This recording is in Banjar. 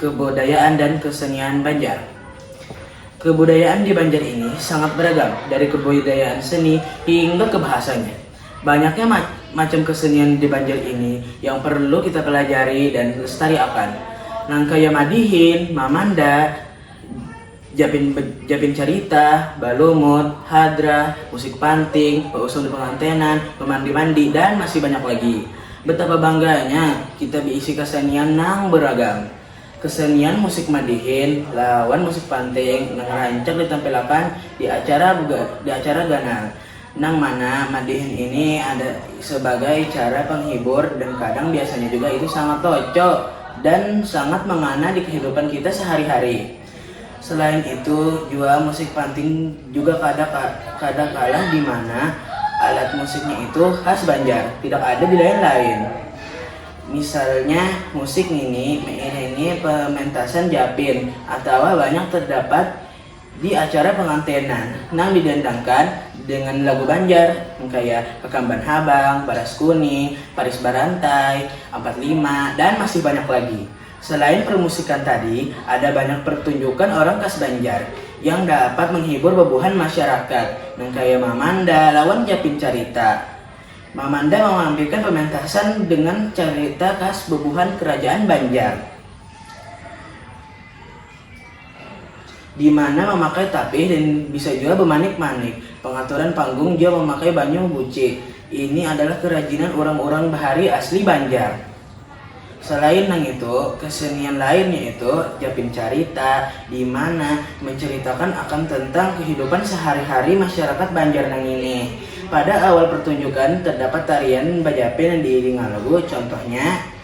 Kebudayaan dan kesenian Banjar Kebudayaan di Banjar ini sangat beragam, dari kebudayaan seni hingga ke bahasanya. Banyaknya ma macam kesenian di Banjar ini yang perlu kita pelajari dan lestariakan. Nangkaya madihin, mamanda, Japin Japin carita, balumut, hadrah, musik panting, bausung di pengantenan, bamandi-mandi, dan masih banyak lagi. Betapa bangganya kita beisi kasenian nang beragam. Kesenian musik madihin lawan musik panting nang rancak ditampilakan di acara di acara ganal, nang mana madihin ini ada sebagai cara penghibur dan kadang biasanya juga itu sangat toco dan sangat mangana di kehidupan kita sehari-hari. Selain itu jua musik panting juga kada kada kalah di mana alat musiknya itu khas Banjar tidak ada di lain-lain. Misalnya musik ngini meiringi pementasan japin atawa banyak terdapat di acara pengantenan nang didandangkan dengan lagu Banjar kaya Kakamban Habang, Baras Kuning, Paris Barantai, Ampat Lima, dan masih banyak lagi. Selain permusikan tadi, ada banyak pertunjukan orang khas Banjar yang dapat menghibur bebuhan masyarakat nang kaya mamanda lawan japin carita. Mamanda mamampirkan pementasan dengan carita khas bebuhan kerajaan Banjar. di mana mamakai tapih dan bisa jua bamanik-manik. Pangaturan panggung jua mamakai banyu buci. Ini adalah kerajinan urang-urang bahari asli Banjar. Salain nangitu, kasenian lain yaitu japin carita, di mana mancaritakan akan tentang kahidupan sahari-hari masyarakat Banjar nangini. Pada awal partunjukan, tardapat tarian bajapin nang diiringa lagu, contohnya.